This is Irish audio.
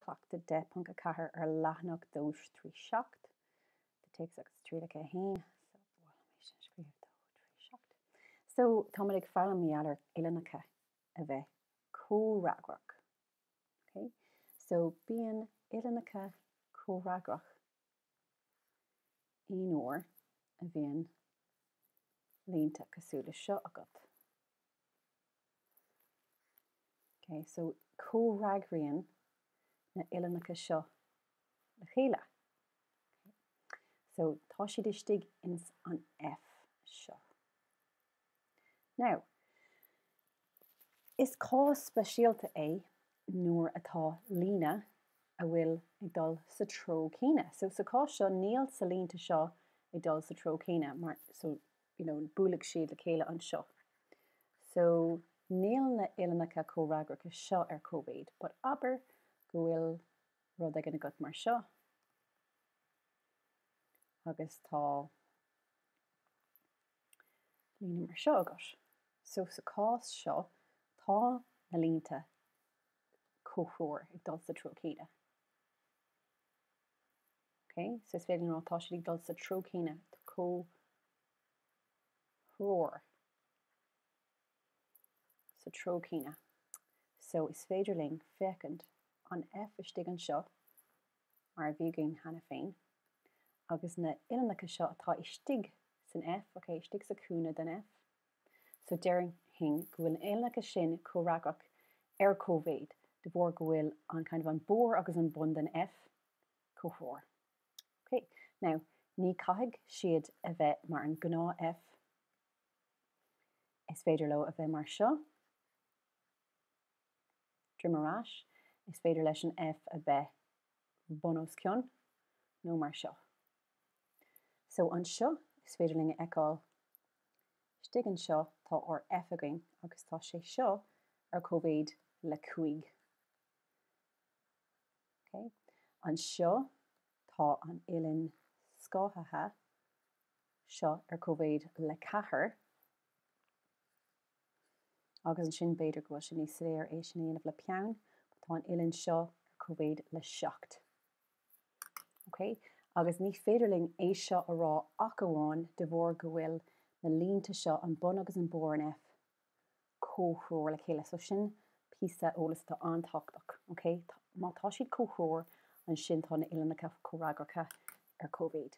Cleachtadh 10.4 ar leathanach dó trí seacht de Téacs agus Trialacha 1, so mhol dom é sin a scríobh dó trí seacht. So tá muid ag foghlaim maidir le uillinneacha a bheith comhfhreagrach. Ok, so bíonn uillinneacha comhfhreagrach Aon uair a bhíonn línte cosúil le seo agat, okay, so comhfhreagraíonn na uillinneacha seo le chéile, okay, so tá siad istigh ins an F seo. Now, is cás speisialta é nuair atá línte atá ag dul sa treo céanna. So, sa chás seo, níl na línte seo ag dul sa treo céanna mar, so, you know, buailfidh siad le chéile anseo. So, níl na uillinneacha comhfhreagracha seo ar cóimhéid, but abair go bhfuil rud éigin agat mar seo, agus tá. líne mar seo agat. So sa cás seo tá na línte comhthreomhar ag dul sa treo céanna. Ok, so is féidir ná tá siad ag dul sa treo céanna tá comhthreomhar sa treo céanna. So is féidir linn féachaint an F istigh anseo mar a bhí againn cheana féin, agus na h-uillinneacha seo atá istigh san F, okay, istigh sa cúinne den F. So déarfainn go bhfuil na h-uillinneacha sin comhfhreagrach ar cóimhéid, de bharr go bhfuil an kind of an barr agus an bun den F comhthreomhar. Okay. Now, ní caithfidh siad a bheith mar an gnáth F. Is féidir leo a bheith mar seo. droim ar ais, is féidir leis an F a bheith bun os cionn, nó mar seo. So, anseo, is féidir linn a fheiceáil, istigh anseo, tá ár F againn, agus tá sé seo ar cóimhéid le 5. Ok. Anseo, tá an uillinn scáthaithe seo ar cóimhéid le 4. agus ansin b'fhéidir go bhfuil sé níos fearr é sin a dhéanamh le peann, but tá an uillinn seo ar cóimhéid le seacht. OK? Agus ní féidir linn é seo a rá ach amháin de bharr go bhfuil na línte seo, an bun agus an barr an F, comhthreomhar le chéile. So sin píosa eolas atá an-tábhachtach. OK? Tá, má tá siad comhthreomhar, ansin tá na uillinneacha comhfhreagracha ar cóimhéid.